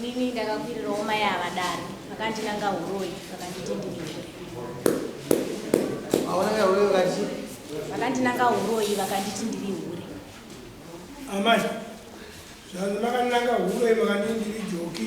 Mimi ndakakwirira homa yavadari vakandinanga uroyi vakanditi ndiningure vakandinanga uroyi vakanditi ndiri hure amai zvanzi makandinanga uroyi vakanditi ndiri joki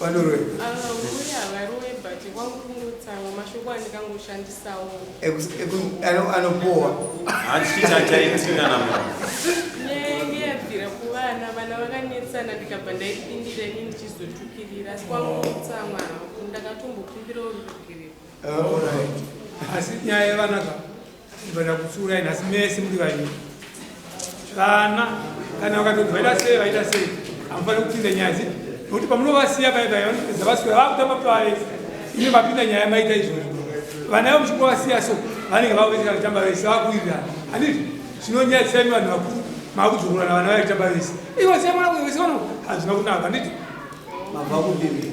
vanoroya Ambuya varoe but kwangukungotsamwa mashoko andikangoshandisawo. anopowa hanzi chiti achaitinga namo Nenge yabvira kuvana vana vakanetsana ndikabva ndaipindira ini ndichizotukirira asi kwangukutsamwa hangu ndakatombokumbirawo ruregerero. asi nyaya yevana ka ndibada kutsiurai nhasi mese muri vanyika vana kana vakatoti vaita sei vaita sei hamufaniri kupinda nyaya dzi nokuti pamunovasiya vaivaya vanopedza vaswera vakutamba pave ine vapinda nyaya maita izvozvo vana vo muchingovasiya so vanenge vakuvetika kutamba vese vakuirira handiti zvinonyadzisai vanhu vakuru makudzorora na vana vaitamba vese ivo siya mwana wese vano hazvina kunaka handiti mabva kumbiri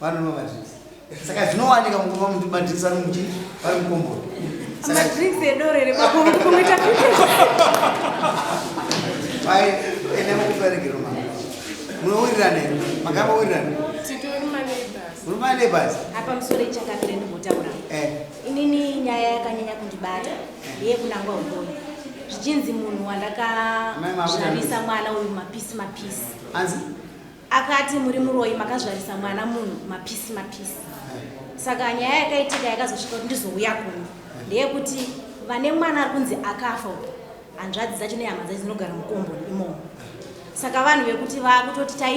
vanonwa madrinks saka zvinowanika mukoma muti madrinks ari muchi vari mukomboro madrinks edoro here bakomuita pai ene mukuperekero ma munowirirana here makamba wirirana muri maneighbors apa musoro ichakavire ndimbotaura eh. inini nyaya yakanyanya kundibata eh. yekunangwa umboni zvichinzi munhu wandakazvarisa mwana uyu mapisi mapisi anzi akati muri muroyi makazvarisa mwana munhu mapisi mapisi saka nyaya yakaitika yakazosvika kuti ndizouya kuno ndeyekuti vane mwana ari kunzi akafa hanzvadzi dzacho nehama dzacho dzinogara mukomboni imomo saka vanhu vekuti vakutoti tai